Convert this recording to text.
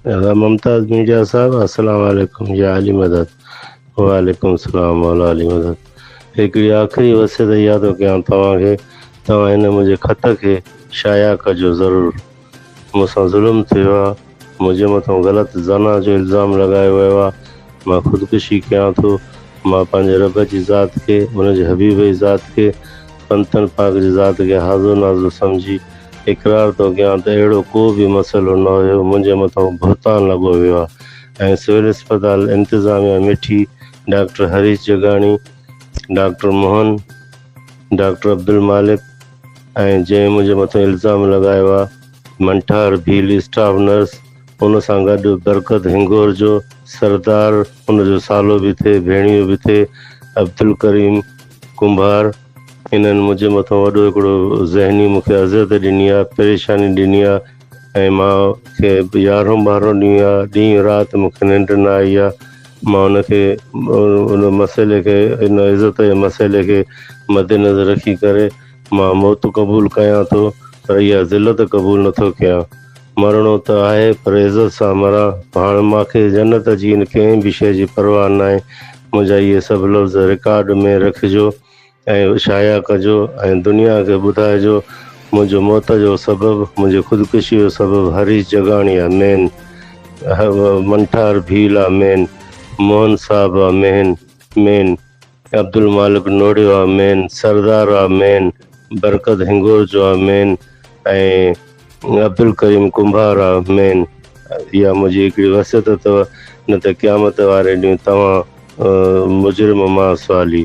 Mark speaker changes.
Speaker 1: ادا ممتاز ميڊيا صاحب السلام عليڪم يا علي مدد وعليڪم السلام مولا علي مدد هڪڙي آخري وصيت اها ٿو ڪيان توهان کي توهان هن منهنجي خط کي شايع ڪجو ضرور مون سان ظلم ٿيو آهي منهنجي مٿان غلط زنا جو الزام لڳايو ويو آهي مان خودڪشي ڪيان ٿو مان پنهنجي رب جي ذات کي ان جي حبيب جي ذات کي پنتن پاڪ جي ذات کي هازو نازو سمجهي اقرار ٿو ڪيان ته اهڙو ڪو به مسئلو نه هيو، منهنجي مٿان بهتان لڳو ويو آهي ۽ سول اسپتال انتظاميا Mithi, doctor Harish Jagani, doctor Mohan, doctor Abdul Malik ۽ جنهن منهنجي مٿان الزام لڳايو آهي منٺار ڀيل اسٽاف نرس ان سان گڏ برڪت هنگور جو سردار ان جو سالو به ٿئي ڀيڻيو به ٿئي عبدالڪريم ڪنڀار، انهن منهنجي مٿان وڏو هڪڙو ذهني مون کي اذيت ڏني آ، پريشاني ڏني آ ۽ مان کي يارهون ٻارهون ڏينهن آ، ڏينهن رات مون کي ننڊ نه آئي آ، مان ان کي ان مسئلي کي ان عزت جي مسئلي کي مدنظر رکي ڪري مان موت قبول ڪيان ٿو پر اها ذلت قبول نٿو ڪيان. مرڻو ته آهي پر عزت سان مران، هاڻ مان کي جنت جي ان ڪنهن به شيء جي پرواهه ناهي، منهنجا اهي سڀ لفظ رڪارڊ ۾ رکجو ۽ شايع ڪجو ۽ دنيا کي ٻڌائجو، منهنجو موت جو سبب، منهنجي خودڪشي جو سبب هريش جگاڻيا، مين، منٺار ڀيل آ، مين، موهن صاحب آ، مين، مين. عبدالمالڪ نوڙيو آ مين، سردار آ مين، برڪت هنگورچو آ مين ۽ عبدالڪريم ڪنڀار آ مين. اها منهنجي هڪڙي وصيت اٿو نه ته قيامت واري ڏينهن توهان مجرم مان سوالي.